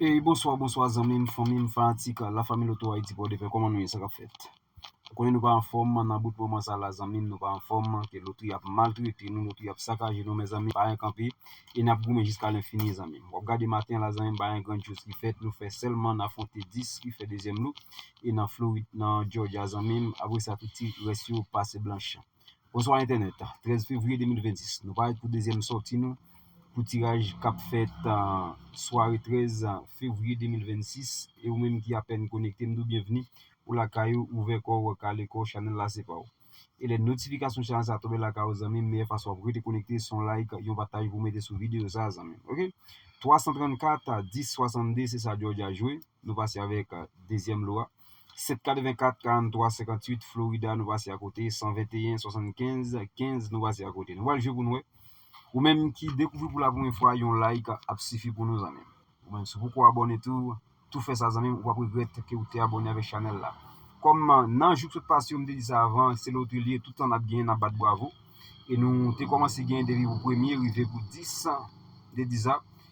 Hey bonswa bonswa zanmim fanmim fanatik la fami loto ayiti pòdepè kòman nou ye sa kap fèt ou konnen nou pa anfòm nan bout moman sa la zanmim nou pa anfòm ke lotri ap maltrete nou lotri ap sakaje nou mezanmi pa yon kanpe e nap goumen jiska lenfini zanmim wap gade maten la zanmim pa yon grand choz ki fèt nou fè sèlman n afwonte 10 ki fè dezyèm lou e nan florid nan jòja zanmim apresa tout ti rès yo pase blanch. Bonswa entènèt, 13 fevriye 2026 nou parèt pou dezyèm sòti nou pou tiraj kap fèt sware 13 fevriye 2026 e ou menm ki apèn konekte m di w byenvni ou lakay ou ouvè kò w kale kò w chanèl la se pa w e lè notifikasyon chanèl sa tonbe lakay ou zanmi m meyè fason wap rete konekte son like yon pataj pou w mete sou videyo sa zanmi m ok 334 10 62 se sa jòj a jwe. Nou pase avèk dezyèm lo a. 7 84 43 58 Florida nou pase akote 121 75 15 nou pase akote nou pral jwe pou nou wè ou menm ki dekouvri pou la premye fwa yon like ap sifi pou nou zanmim ou menm sou poko abone tou tou fè sa zanmim ou pap regrèt ke ou te abone avèk chanèl la kòm nan jou ki sot pase yo m te di sa avan se lotri li ye tout tan nap genyen nap bat bwavo e nou te kòmanse genyen depi pou premye rive pou 10 m te di sa.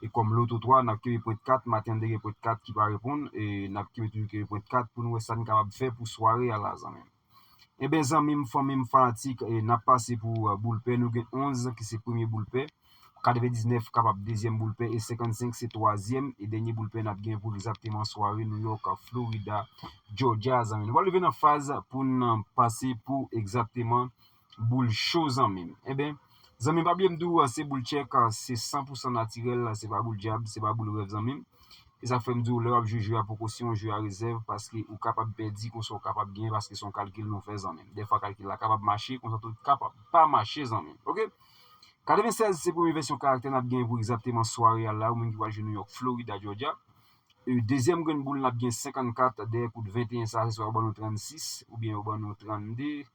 E kòm lòt ou twa, n ap kenbe pwent 4, maten an 2 gen pwent 4 ki pa reponn, e n ap kenbe toujou kenbe pwent 4 pou nou wè sa n kapab fè pou sware a la zanmi m. Enben zanmi m, fanmi m, fanatik, n ap pase pou boul pè, nou gen 11 ki se premye boul pè, 99 kapab dezyèm boul pè e 55 se twazyèm e dènye boul pè n ap gen pou egzakteman sware Nouyòk, Florida, Jòjya a zanmi m. Nou pral rive nan faz pou n pase pou egzakteman Boul cho zanmim. Enben Zanmim pa bliye m di w an se boul check an se san pou san natirèl la se pa boul dyab se pa boul rèv zanmim e sa k fè m di w lè wap jwe jwe a poko se yon jwe a rezèv paske ou kapab pèdi konsa ou kapab genyen paske se yon kalkil nou fè zanmim dèfwa kalkil la kapab mache konsa tou li kapab pa mache zanmim ok 96 se premye vèsyon karaktè nap genyen pou egzakteman sware a la ou menm ki pral jwe Nouyòk Florida Jòdja e dezyèm grenn boul nap gen 54 dèyè kout 21 sa se swa yo ban nou 36 oubyen yo ban nou 32.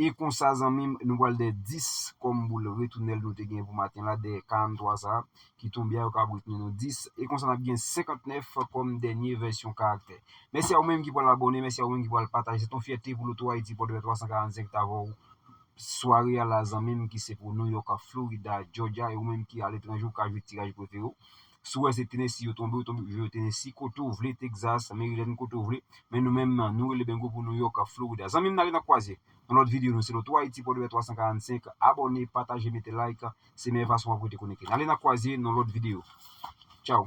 E konsa zanmi m, nou pral dè 10 kòm boul retounèl nou te gen pou maten la, dè 43 sa a ki tonbe a yo kab retounen nou 10. E konsa n ap gen 59 kòm dènye vèsyon karaktè. Mèsi a ou menm ki pral abòne, mèsi a ou menm ki pral pataje. Se t on fyète pou Lotohaiti Pòdpè 345 t avè w sware a la zanmi m ki se pou New York, Florida, Georgia e ou menm ki aletranje ou ka jwe tiraj prefere w. Si w wè se Tennessee yo tonbe, yo tonbe pou jwe Tennessee, kote w vle, Texas, Maryland, kote w vle. Men nou menm, nou rele bengo pou New York ak Florida. Zanmi m, n ale n ak kwaze nan lòt videyo nou. Se Loto Ayiti, Pòdepè 345. Abòne, pataje, mete like. Se meyè fason w ap rete konekte. N ale n ak kwaze nan lòt videyo. Tchaw!